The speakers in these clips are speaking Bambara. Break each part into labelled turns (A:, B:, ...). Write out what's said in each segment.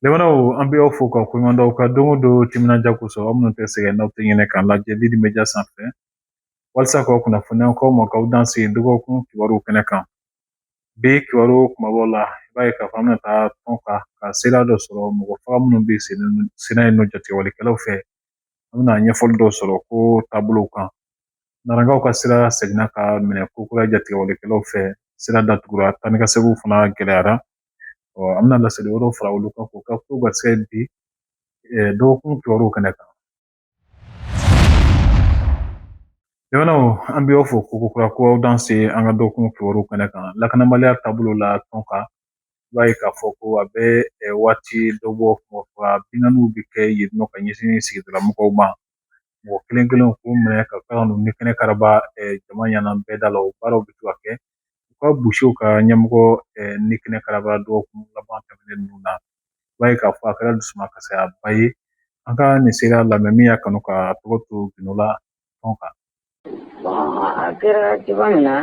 A: Lamɛnnaw an bɛ aw fo ka koɲuman dɔn aw ka don o don timinandiya kosɔn aw minnu tɛ sɛgɛn n'aw tɛ ɲinɛ k'an lajɛ Lidi Media sanfɛ walasa k'aw kunnafoni an ko aw ma k'aw danse dɔgɔkun kibaruw kɛnɛ kan Bi kibaru kumabaw la i b'a ye k'a fɔ an bɛna taa Tonka ka seereya dɔ sɔrɔ mɔgɔ faga minnu bɛ senna yen nɔ jatigɛwalikɛlaw fɛ an bɛna ɲɛfɔli dɔ sɔrɔ ko taabolow kan Narakaw ka sira seginna ka minɛ kokura jatigɛwalikɛlaw fɛ sira datugura taa ni ka seginw fana gɛlɛyara ɔ an bɛna laseli wɛrɛw fara olu kan k'u ka ko ka se bi dɔgɔkun kibaruw kɛnɛ kan Jamanaw an bɛ aw fo kokura ko aw danse an ka dɔgɔkun kibaruw kɛnɛ kan lakanabaliya taabolo la Tonka i b'a ye k'a fɔ ko a bɛ waati dɔ bɔ binkanniw bɛ kɛ yen nɔ ka ɲɛsin sigidala mɔgɔw ma mɔgɔ kelen kelen k'u minɛ ka tila ka n'u ni kɛnɛ karaba jama ɲɛna bɛɛ da la o baaraw bɛ to ka kɛ u ka bouchers ka ɲɛmɔgɔ ni kɛnɛ karaba dɔgɔkun laban tɛmɛnen ninnu na i b'a ye k'a fɔ a kɛra dusumakasiya ba ye an ka nin seereya lamɛn min y'a kanu ka tɔgɔ to gundo la Tonka
B: a kɛra cogoya min na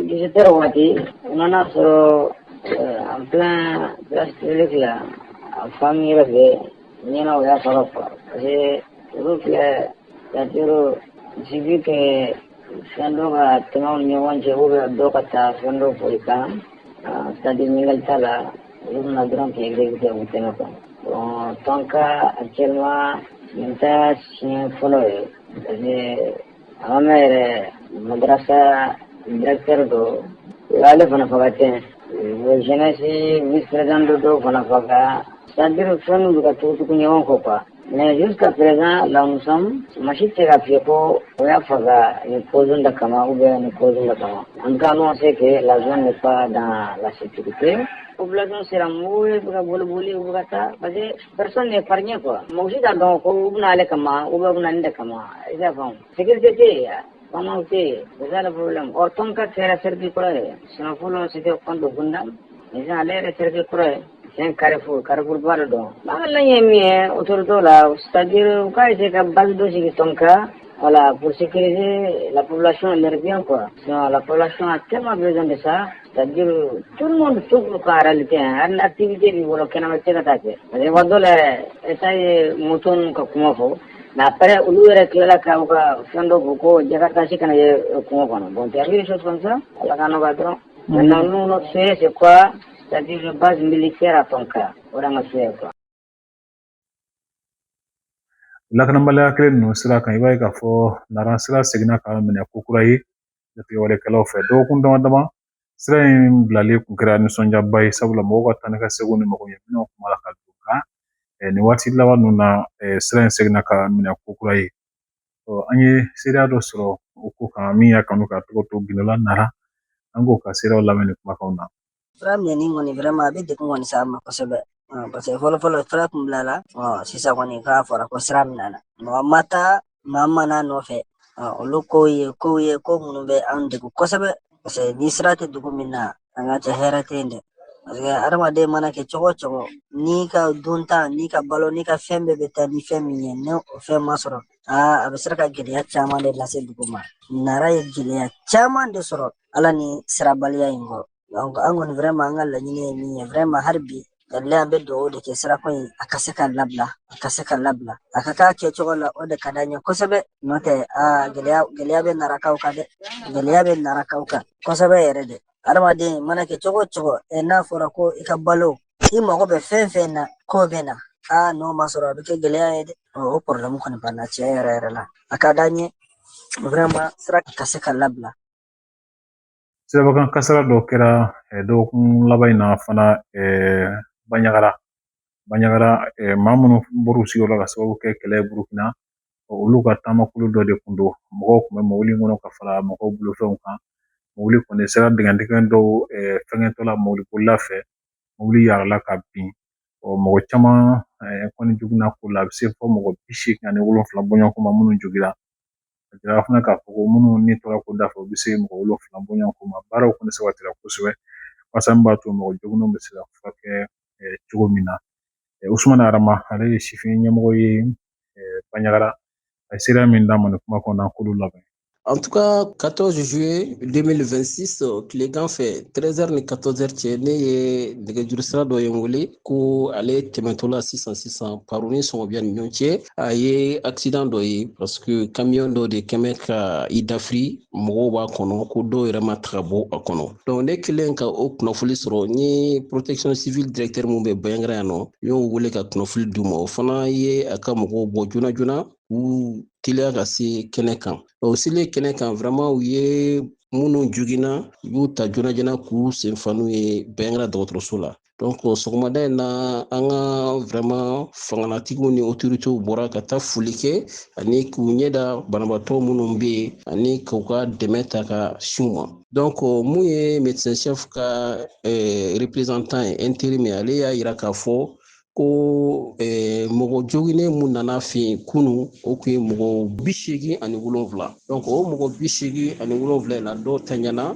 B: dix-sept heures waati u nan'a sɔrɔ en pleine place publique là a famille yɛrɛ fɛ ɲɛna u y'a sɔrɔ fɔ parce que olu fɛ c'est-à-dire il suffit que fɛn dɔ ka tɛmɛ u ni ɲɔgɔn cɛ ou bien dɔ ka taa fɛn dɔ fɔ i kan c'est-à-dire ɲininkali t'a la Olu bɛ na dɔrɔn k'i exécuter u tɛmɛ quoi bon Tonka actuellement nin t'a siɲɛ fɔlɔ ye parce que a ma mɛn yɛrɛ madarasa directeur dɔ u y'ale fana faga ten o jeunesse vice président dɔ dɔw fana faga c'est à dire fɛnw bɛ ka tugutugu ɲɔgɔn kɔ quoi Mɛju ka perez la masi tɛ ka fi ko o y'a faga ni ko da kama u bɛ ni ko da kama an ka ɲɔgɔn se kɛ la de fa dan lasitigi pe u bila sera mɔgɔ bɛ bolioli u bɛ taa pasa de pa ɲɛ kuwa mɔgɔsi ka dɔn ko u bɛna ale kama u bɛ bɛna de kama i ka fɔ sigite tɛ yan bamanan tɛ yen u la ɔ tɔn ka kɛra seriti kɔrɔ ye sina fɔlɔ si tɛ kɔn donda ale yɛrɛ seriti kɔrɔ ye Tiɲɛ karifu karifuba de dɔn ala ye min ye o to dɔw la saj k'a se ka balo dɔ sigi tɔn kan wala bosi kelen laplasiyɔn laribabi kɔ laplasiyɔn tema bɛ de sa saj tu to ka tɛ an ti de wɔɔrɔ kɛnɛma cɛ ka taa kɛ wa dɔ la esa ye mu ka kuma fɔ nkapɛ olu yɛrɛ tilala ka ka fɛn dɔ ko ko jɛgɛ kasi kana ye kungo kɔnɔ bon sɔn ala ka dɔrɔn Mɛ na se se saba mi kɛra tɔn kan
A: o ma se kuwa lakanabaliya kelen ninnu sira kan i b'a ye k'a fɔ nara sira seginna ka minɛ ko kura ye jatigɛwalekɛlaw fɛ dɔgɔkun dama dama sira in bilali kun kɛra nisɔndiyaba ye sabula mɔgɔw ka taa ni ka segin ni magoɲɛminɛw kuma la ka don kan nin waati laban ninnu na sira in seginna ka minɛ ko kura ye an ye seereya dɔ sɔrɔ o ko kan min y'a kanu ka tɔgɔ to gindo la nara an k'o ka seereya lamɛn nin kumakanw na sira minɛni kɔni
C: vraiment a bɛ degun kɔni sama kosɛbɛ paseke fɔlɔ fɔlɔ sira kun bilala sisan kɔni k'a fɔra ko sira minɛna mɔgɔ ma taa maa ma na nɔfɛ olu kow ye kow ye ko minnu bɛ an degun kosɛbɛ Paseke ni sira tɛ dugu min na an ka cɛ hɛrɛ tɛ yen dɛ paseke adamaden mana kɛ cogo o cogo n'i ka dunta n'i ka balo n'i ka fɛn bɛɛ bɛ taa ni fɛn min ye ni o fɛn ma sɔrɔ aa a bɛ sera ka gɛlɛya caman de lase dugu ma nara ye gɛlɛya caman de sɔrɔ a la nin sirabaliya in kɔ an kɔni vraiment an ka laɲini ye min ye vraiment hali bi kabila an bɛ dugawu de kɛ sirako in a ka se ka labila a ka se ka labila a ka k'a kɛcogo la o de ka d'an ye kosɛbɛ n'o tɛ aa gɛlɛya gɛlɛya bɛ narakaw kan dɛ gɛlɛya bɛ narakaw kan kosɛbɛ yɛrɛ de adamaden mana kɛ cogo o cogo n'a fɔra ko i ka balo i mago bɛ fɛn fɛn na k'o bɛ na aa n'o ma sɔrɔ a bɛ kɛ gɛlɛya ye dɛ o porobilɛmu kɔni b'an na tiɲɛ yɛrɛ yɛrɛ la a ka d'an ye sira ka se ka labila
A: Sirabakan kasara dɔ kɛra dɔgɔkun laban in na fana banyagara banyagara maa minnu bɔra u sigiyɔrɔ la k'a sababu kɛ kɛlɛ ye burukina olu ka taamakulu dɔ de tun don mɔgɔw tun bɛ mobili in kɔnɔ ka fara mɔgɔw bolofɛnw kan mobili kɔni sera dingɛn dɔw fɛnkɛtɔla mobilibolila fɛ mobili yala ka bin ɔ mɔgɔ caman kɔni joginna ko la a bɛ se fɔ mɔgɔ bi seegin ani wolonwula bɔɲɔgɔnko ma minnu jogin A jira fana k'a fɔ ko minnu ni tora ko da fɛ u bɛ se mɔgɔ wolonwula bɔɲɔgɔnko ma baaraw kɔni sabatira kosɛbɛ walasa min b'a to mɔgɔ joginw bɛ se ka furakɛ cogo min na usumana arama ale ye sifin ɲɛmɔgɔ ye baɲagara a ye seereya min d'an ma nin kuma kɔnɔ an k'olu lamɛn
D: En tout cas 14 juillet 2026 tilegan fɛ 13 heures ni 14 heures cɛ ne ye nɛgɛjuru sira dɔ ye n wele ko ale tɛmɛtɔla sisan sisan paru ni sɔngɔbiya ni ɲɔgɔn cɛ a ye accident dɔ ye parce que camion dɔ de kɛmɛ ka i dafiri mɔgɔw b'a kɔnɔ ko dɔw yɛrɛ ma taga bɔ a kɔnɔ donc ne kɛlen ka o kunnafoli sɔrɔ n ye protection civile directeur min bɛ banyagara yan nɔ n y'o wele ka kunnafoli d'u ma o fana ye a ka mɔgɔw bɔ joona joona k'u teliya ka se kɛnɛ kan o selen kɛnɛ kan vraiment u ye minnu joginna u y'u ta joona joona k'u senfa n'u ye banyagara dɔgɔtɔrɔso la sɔgɔmada in na an ka vraiment fanganatigiw ni otoritew bɔra ka taa foli kɛ ani k'u ɲɛ da banabaatɔ minnu bɛ yen ani k'u ka dɛmɛ ta ka s'u ma donc mun ye médecin chef ka représentant ye intérim ale y'a yira k'a fɔ ko mɔgɔ joginnen mun nana a fɛ yen kunun o tun ye mɔgɔ bi seegin ani wolonwula donc o mɔgɔ bi seegin ani wolonwula in na dɔw tanyana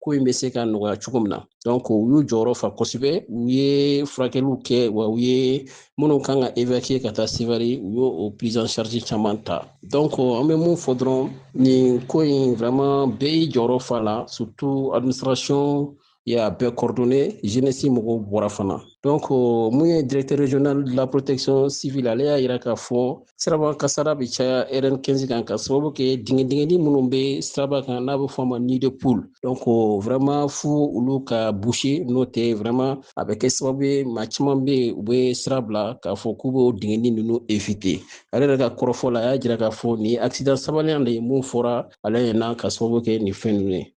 D: ko in bɛ se ka nɔgɔya cogo min na donc u y'u jɔyɔrɔ fa kosɛbɛ u ye furakɛliw kɛ wa u ye minnu kan ka évacuer ka taa sevare u y'o prise en charge caman ta donc an bɛ mun fɔ dɔrɔn nin ko in vraiment bɛɛ y'i jɔyɔrɔ fa la surtout administration y'a bɛɛ coordonner jeunesse mɔgɔw bɔra fana donc mun ye directeur régional de la protection civile ale y'a yira k'a fɔ Siraba kasara bɛ caya RN 15 kan ka sababu kɛ dingɛ dingɛni minnu bɛ siraba kan n'a bɛ fɔ a ma nid de poule donc vraiment fo olu ka boucher n'o tɛ vraiment a bɛ kɛ sababu ye maa caman bɛ yen u bɛ sira bila k'a fɔ k'u b'o dingɛni ninnu éviter ale yɛrɛ ka kɔrɔfɔ la a y'a jira k'a fɔ nin ye accident sabaliya de ye mun fɔra ale ɲɛna ka sababu kɛ nin fɛn ninnu ye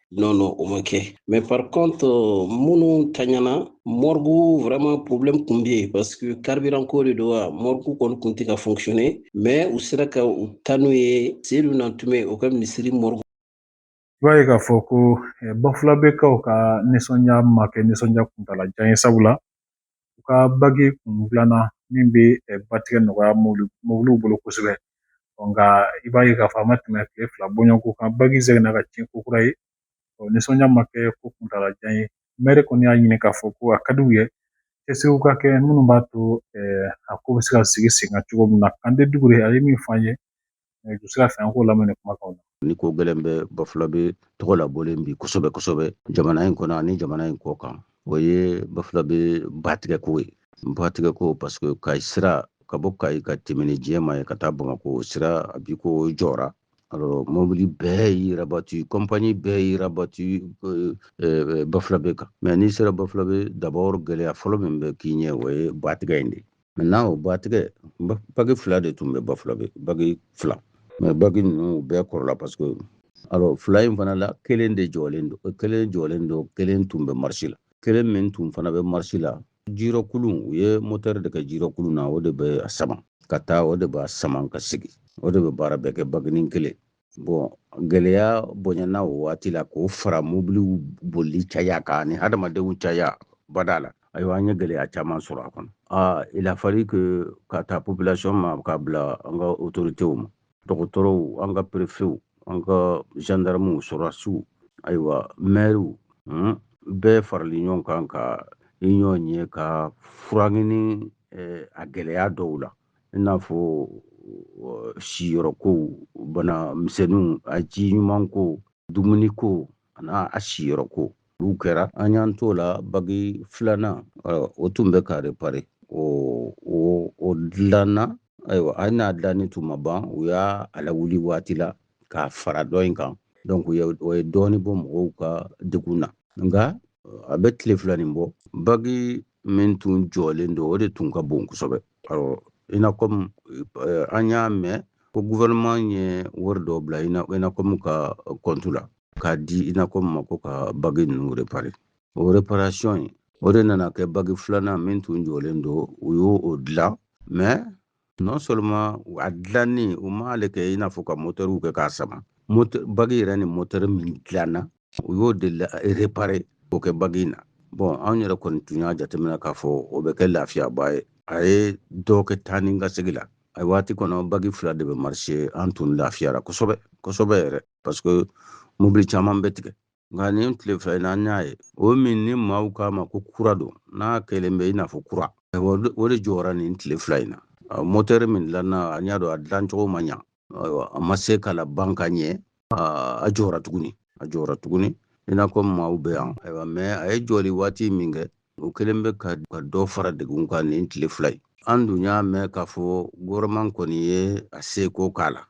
D: non non o ma kɛ mais par contre minnu tanyana mɔrigu vraiment problème kun bɛ yen parce que carburant ko de don wa mɔrigu kɔni kun tɛ ka fonctionner mais u sera ka u taa n'u ye seyidu nantume o ka misiri mɔrigu i b'a
A: ye k'a fɔ ko eh, bafulabekaw ka nisɔndiya ma kɛ nisɔndiya kuntala jan ye sabula u ka bagi kun dilanna min bɛ batigɛ nɔgɔya mobiliw bolo kosɛbɛ nka i b'a ye k'a fɔ a ma tɛmɛ tile fila bɔɲɔgɔnko kan bagi seginna ka tiɲɛ ko kura ye nisɔndiya ma kɛ ko kuntaala jan ye mɛri kɔni y'a ɲini k'a fɔ ko a ka d'u ye cɛsiriw ka kɛ minnu b'a to a ko bɛ se ka sigi sen kan cogo min na kande dukure a ye min fɔ an ye ju sira fɛ an k'o lamɛn nin kumakanw na ni ko gɛlɛn
E: bɛ bafulabe tɔgɔ labɔlen bi kosɛbɛ kosɛbɛ jamana in kɔnɔ ani jamana in kɔ kan o ye bafulabe batigɛko ye batigɛko paseke kayi sira ka bɔ kayi ka tɛmɛ ni diyema ye ka taa bamakɔ sira a bi ko jɔra alors mobili bɛɛ y'i rabatu kɔnpani bɛɛ y'i rabatu euh, euh, bafulabe kan mɛ n'i sera bafulabe dabɔr gɛlɛya fɔlɔ min bɛ k'i ɲɛ o ye batigɛ in de maintenant o batigɛ bagi fila de tun bɛ bafulabe bagi fila mɛ bagi ninnu bɛɛ kɔrɔla parce que alors fila in fana la kelen de jɔlen don kelen jɔlen don kelen tun bɛ marisi la kelen min tun fana bɛ marisi la jirɔkulun u ye motɛri de kɛ jirɔkulun na o de bɛ a sama ka taa o de b'a sama ka sigi o de bɛ baara bɛɛ kɛ baginin kelen bon gɛlɛya bonyana o waati la k'o fara mobiliw bolili caya kan ni hadamadenw caya bada la ayiwa an ye gɛlɛya caman sɔrɔ a kɔnɔ a il a fallu que k'a ta population ma k'a bila an ka autorités ma dɔgɔtɔrɔw an ka prefew an ka gendarmew sɔrɔdasiw ayiwa mɛriw hmm, bɛɛ farali ɲɔgɔn kan ka ɲɔgɔn ye ka fura ɲini eh, a gɛlɛya dɔw la i n'a fɔ siyɔrɔko bana misɛnninw a ji ɲuman ko dumuni ko ani a siyɔrɔko olu kɛra an y'an t'o la bagi filanan o tun bɛ ka repare o o o dilanna ayiwa hali n'a dilanni tun ma ban u y'a lawuli waati la k'a fara dɔ in kan donc o ye dɔɔnin bɔ mɔgɔw ka degun na nka a bɛ tile fila nin bɔ bagi min tun jɔlen don o de tun ka bon kosɛbɛ awɔ INACOM eh, an y'a mɛn ko gouvernement ye wari dɔ bila INACOM ka kɔntu la k'a di INACOM ma ko ka bagi ninnu repare o reparation ye o de nana kɛ bagi filanan min tun jɔlen don u y'o o dilan mais non seulement a dilanni u m'ale kɛ i n'a fɔ ka motɛriw kɛ k'a sama bagi yɛrɛ ni motɛri min dilanna u y'o de repare k'o kɛ bagi in na bon anw yɛrɛ kɔni tun y'a jateminɛ k'a fɔ o bɛ kɛ lafiyaba ye a ye dɔ kɛ taa ni ka segi la a waati kɔnɔ bagi fila de bɛ marché an tun lafiyara kosɛbɛ kosɛbɛ yɛrɛ parce que mobili caman bɛ tigɛ nka nin tile fila in na an y'a ye o min ni maaw k'a ma ko kura don n'a kɛlen bɛ i n'a fɔ kura o de jɔra nin tile fila in na motɛri min dilanna an y'a dɔn a dilancogo ma ɲa ayiwa a ma se ka laban ka ɲɛ a jɔra tuguni a jɔra tuguni INACOM maaw bɛ yan ayiwa mais a ye jɔli waati min kɛ o kɛlen bɛ ka dɔ fara degun kan nin tile fila in an dun y'a mɛn k'a fɔ gouvernement kɔni ye a seko k'a la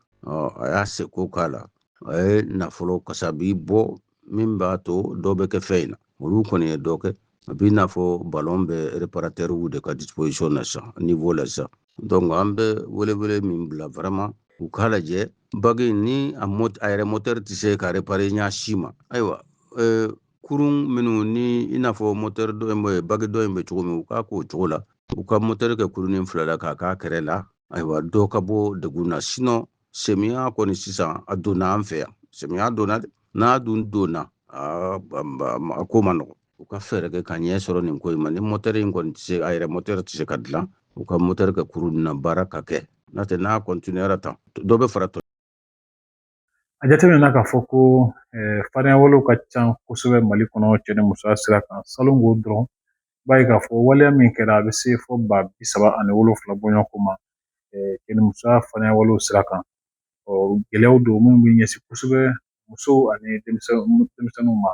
E: a y'a seko k'a la a ye nafolo kasabi bɔ min b'a to dɔ bɛ kɛ fɛn in na olu kɔni ye dɔ kɛ a b'i n'a fɔ ballon bɛ reparatɛriw de ka disposition na sisan niveau la sisan donc an bɛ welewele min bila vraiment u k'a lajɛ bagi ni a yɛrɛ motɛri tɛ se ka repare ɲa si ma ayiwa euh, kurun minnu ni i n'a fɔ moteur dɔ in bɛ bagi dɔ in bɛ cogo min u k'a k'o cogo la u ka moteur kɛ kurunin fila la k'a k'a kɛrɛ la ayiwa dɔ ka bɔ degun na sinon semiya kɔni sisan a donna an fɛ yan semiya donna dɛ n'a dun donna a ko man nɔgɔn u ka fɛɛrɛ kɛ ka ɲɛ sɔrɔ nin ko in ma ni moteur in kɔni tɛ se a yɛrɛ moteur tɛ se ka dilan u ka moteur kɛ kurun na baara ka kɛ n'o tɛ n'a continuera tan dɔ bɛ fara
A: A jateminɛna k'a fɔ ko farinya walew ka ca kosɛbɛ mali kɔnɔ cɛ ni musoya sira kan salon ko dɔrɔn i b'a ye k'a fɔ waleya min kɛra a bɛ se fo ba bi saba ani wolonfila bɔɲɔgɔnko ma cɛ ni musoya farinya walew sira kan ɔ gɛlɛyaw don minnu bɛ ɲɛsin kosɛbɛ musow ani denmisɛnninw ma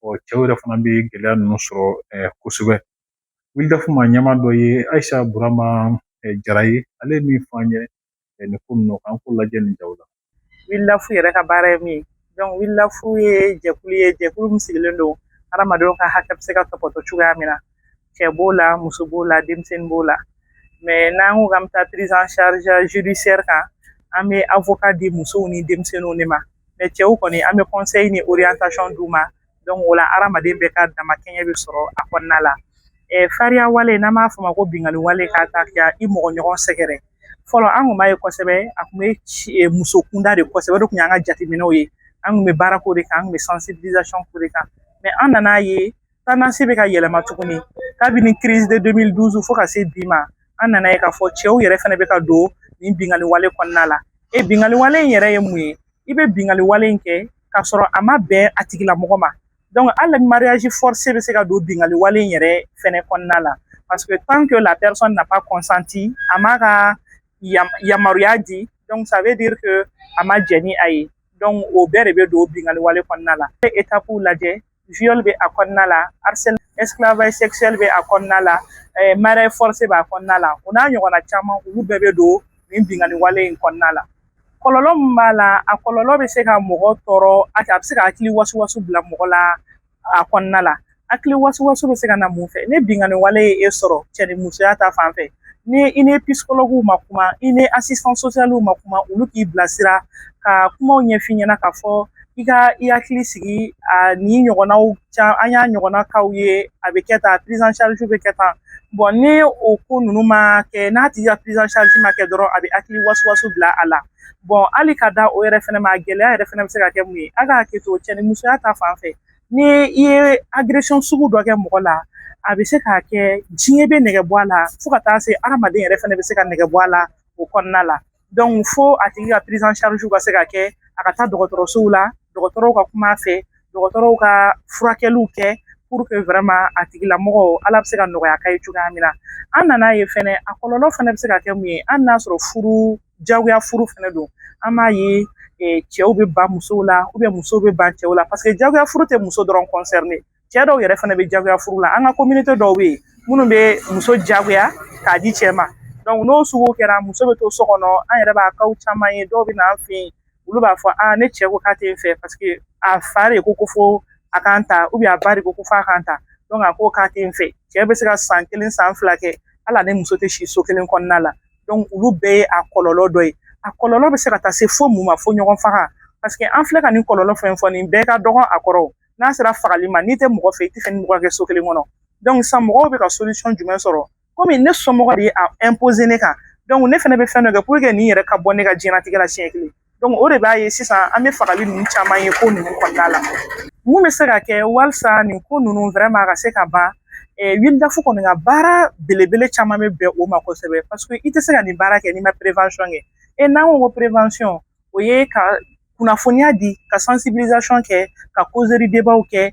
A: ɔ cɛw yɛrɛ fana bɛ gɛlɛya ninnu sɔrɔ kosɛbɛ wildaf maa ɲɛmaa dɔ ye ayisa burama jara ye ale ye min fɔ an ye nin ko ninnu kan k'o lajɛ nin jaw la wildaf
F: yɛrɛ ka baara ye min ye donc wildaf ye jɛkulu ye jɛkulu min sigilen don hadamadenw ka hakɛ bɛ se ka topoto cogoya min na cɛ b'o la muso b'o la denmisɛnnin b'o la mais n'an ko k'an bɛ taa prise en charge judiciaire kan an bɛ avocat di musow ni denmisɛnninw de ma mais cɛw kɔni an bɛ conseil ni orientation d'u ma donc o la hadamaden bɛɛ ka damakɛɲɛ bɛ sɔrɔ a kɔnɔna la farinya wale n'an b'a fɔ o ma ko binkanni wale ka taa kɛ i mɔgɔ ɲɔgɔn sɛgɛrɛ fɔlɔ an kun b'a ye kosɛbɛ a kun bɛ e, muso kunda de kosɛbɛ o de kun y'an ka jateminɛw ye an kun bɛ baara k'o de kan an kun bɛ sensibilisation k'o de kan mais an nan'a ye tendance bɛ ka yɛlɛma tuguni kabini crise de 2012 fo ka se bi ma an nan'a ye k'a fɔ cɛw yɛrɛ fana bɛ ka don nin binkanni wale kɔnɔna la e binkanni wale in yɛrɛ ye mun ye i bɛ binkanni wale in kɛ k'a sɔrɔ a ma bɛn a tigilamɔgɔ ma donc hali mariage forcé bɛ se ka don binkanni wale in yɛrɛ fɛnɛ kɔnɔna la parce que tant que la personne n'a pas consenti a m'a ka yamaruya di donc ça veut dire que a ma jɛn ni a ye donc o bɛɛ de bɛ don binkanni wale kɔnɔna la étape lajɛ viol bɛ a kɔnɔna la harcèle esclavage sexuel bɛ a kɔnɔna la eh, mariage forcé b'a kɔnɔna la o n'a ɲɔgɔnna caman olu bɛɛ bɛ don nin binkanni wale in kɔnɔna la kɔlɔlɔ min b'a la a kɔlɔlɔ bɛ se ka mɔgɔ tɔɔrɔ a bɛ se ka hakili wasuwasu bila mɔgɔ la a kɔnɔna la hakili wasuwasu bɛ se ka na mun fɛ ni binkanni wale ye e sɔrɔ cɛ ni musoya ta fan fɛ ni i ni psychologuew ma kuma i ni assistant socialw ma kuma olu k'i bilasira ka kumaw ɲɛf'i ɲɛna k'a fɔ i ka i hakili sigi a ni ɲɔgɔnnaw can an y'a ɲɔgɔnna casw ye a bɛ kɛ tan prise en charge bɛ kɛ tan bon ni o ko ninnu ma kɛ n'a tigi ka prise en charge ma kɛ dɔrɔn a bɛ hakili wasuwasu bila a la bon hali ka da o yɛrɛ fɛnɛ ma gɛlɛya yɛrɛ fɛnɛ bɛ se ka kɛ mun ye a ka hakili to cɛ ni musoya ta fan fɛ Ni i ye agression sugu dɔ kɛ mɔgɔ la a bɛ se k'a kɛ diɲɛ bɛ nege bɔ a la fo ka taa se hadamaden yɛrɛ fana bɛ se ka nege bɔ a la o kɔnɔna la donc fo a tigi ka prise en charge ka se ka kɛ a ka taa dɔgɔtɔrɔsow la dɔgɔtɔrɔw ka kuma a fɛ dɔgɔtɔrɔw ka furakɛliw kɛ pour que vraiment a tigilamɔgɔ ala bɛ se ka nɔgɔya k'a ye cogoya min na an nan'a ye fɛnɛ a kɔlɔlɔ fana bɛ se ka kɛ mun ye hali n'a sɔrɔ furu jagoya furu fɛnɛ don an b'a ye cɛw bɛ ban musow la musow bɛ ban cɛw la paseke jagoya furu tɛ muso dɔrɔn concerner cɛ dɔw yɛrɛ fɛnɛ bɛ jagoya furu la an ka communauté dɔw bɛ yen minnu bɛ muso jagoya k'a di cɛ ma donc n'o sugu kɛra muso bɛ to so kɔnɔ an yɛrɛ b'a kaw caman ye dɔw bɛ na an fɛ yen olu b'a fɔ a ne cɛ ko k'a tɛ n fɛ paseke a fa de ko ko fo a ka n ta a ba de ko ko f'a ka n ta donc a ko k'a tɛ n fɛ cɛ bɛ se ka san kelen san fila kɛ hali ni muso tɛ si so kelen kɔnɔna la olu bɛɛ ye a kɔlɔlɔ dɔ ye a kɔlɔlɔ bɛ se ka taa se fo mun ma fo ɲɔgɔn faga paseke an filɛ ka nin kɔlɔlɔ fɛn fɔ nin bɛɛ ka dɔgɔn a kɔrɔ n'a sera fagali ma n'i tɛ mɔgɔ fɛ i tɛ fɛ ni mɔgɔ ka kɛ so kelen kɔnɔ donc sisan mɔgɔw bɛ ka solution jumɛn sɔrɔ komi ne somɔgɔ de ye a imposer ne kan donc ne fɛnɛ bɛ fɛn dɔ kɛ pour que nin yɛrɛ ka bɔ ne ka diɲɛnatigɛ la siɲɛ kelen o de b'a ye sisan an bɛ fagali ninnu caman ye ko ninnu kɔnɔna la mun bɛ se ka kɛ walisa nin ko ninnu vraiment ka se ka ban WILDAF kɔni ka baara belebele caman bɛ bɛn o ma kosɛbɛ paseke i tɛ se ka nin baara kɛ n'i ma prévention kɛ e n'an ko ko prévention o ye ka kunnafoniya di ka sensibilisation kɛ ka causerie-débatw kɛ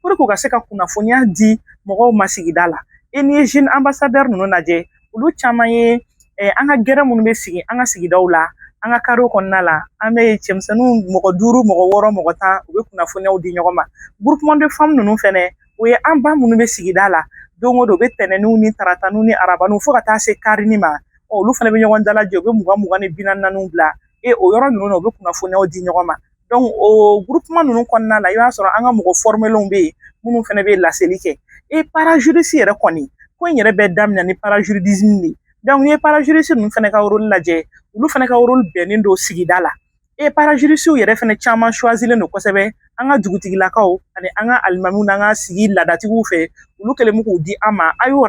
F: pour que u ka se ka kunnafoniya di mɔgɔw ma sigida la n'i ye jeune ambassadeur ninnu lajɛ olu caman ye eh, an ka gɛrɛn minnu bɛ sigi an ka sigidaw la an ka karew kɔnɔna la an bɛ cɛmisɛnninw mɔgɔ duuru mɔgɔ wɔɔrɔ mɔgɔ tan u bɛ kunnafoniyaw di ɲɔgɔn ma groupement de femmes ninnu fɛnɛ o ye an ba minnu bɛ sigida la don o don u bɛ tɛnɛniw ni tarataniw ni arabaniw fo ka taa se karini ma olu fana bɛ ɲɔgɔn dalajɛ u bɛ mugan mugan ni bi naani bila e o yɔrɔ ninnu na u bɛ kunnafoniyaw di ɲɔgɔn ma o ninnu kɔnɔna la i b'a sɔrɔ an ka mɔgɔ bɛ yen minnu fana bɛ laseli kɛ e yɛrɛ kɔni ko in yɛrɛ bɛ daminɛ ni de n'i ye ninnu fana ka lajɛ olu fana ka bɛnnen don sigida la e yɛrɛ fana caman suwazlen don kosɛbɛ an ka dugutigilakaw ani an ka alimamu n'an ka sigi laadadatigiw fɛ olu kɛlen k'u di an ma a y'o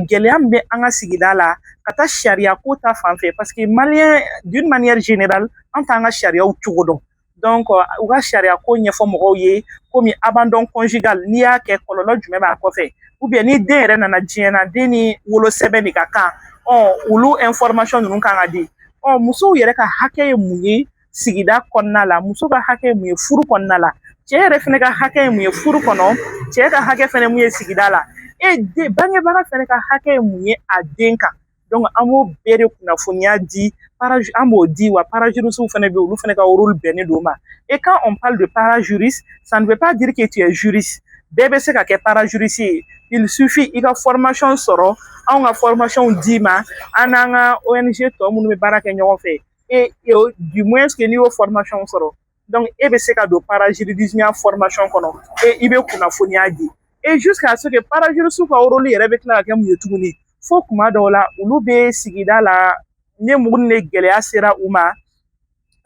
F: gɛlɛya min bɛ an ka sigida la ka taa sariya ko ta fan fɛ paseke malien d'une manière générale an t'an ka sariyaw cogo dɔn donc u ka sariya ko ɲɛfɔ mɔgɔw ye komi abandon conjugal n'i y'a kɛ kɔlɔlɔ jumɛn b'a kɔfɛ ou bien ni den yɛrɛ nana diɲɛ na den ni wolosɛbɛn de ka kan ɔ olu information ninnu ka kan ka di ɔ musow yɛrɛ ka hakɛ ye mun ye sigida kɔnɔna la muso ka hakɛ ye mun ye furu kɔnɔna la cɛ yɛrɛ fɛnɛ ka hakɛ ye mun ye furu kɔnɔ cɛ ka hakɛ fɛnɛ mun ye sigida la e den bangebaga fɛnɛ ka hakɛ ye mun ye a den kan donc an b'o bɛɛ de kunnafoniya di parage an b'o di wa parajurisiw fɛnɛ bɛ olu fɛnɛ ka rôle bɛnnen don o ma et quand on parle de parajuriste ça ne veut pas dire que tu es juriste bɛɛ bɛ se ka kɛ parajurisi ye il suffit i ka formation sɔrɔ anw ka formation d'i ma an n'an ka ONG tɔ minnu bɛ baara kɛ ɲɔgɔn fɛ e e o du moins que n'i y'o formation sɔrɔ donc e bɛ se ka don parajurisiya formation kɔnɔ e i bɛ kunnafoniya di e jusqu'à ce que parajurisiw ka rôle yɛrɛ bɛ tila ka kɛ mun ye tuguni fo kuma dɔw la olu bɛ sigida la ne mɔgɔw ni gɛlɛya sera u ma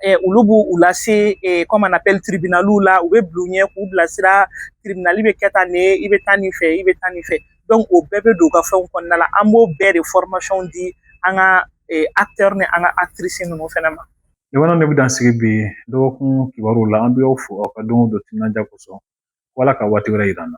F: eh, olu b'u u lase eh, comme on appelle tribunaliw la u bɛ bila u ɲɛ k'u bilasira tribunali bɛ kɛ tan ne i bɛ taa nin fɛ i bɛ taa nin fɛ o bɛɛ bɛ don u ka fɛnw kɔnɔna la an b'o bɛɛ de formation di an ka acteurs ni an ka actrices ninnu fɛnɛ ma jamana ne bɛ dan sigi
A: bi dɔgɔkun kibaruw la an bɛ aw fo aw ka don o don timinandiya kosɔn Ala ka waati wɛrɛ yira an na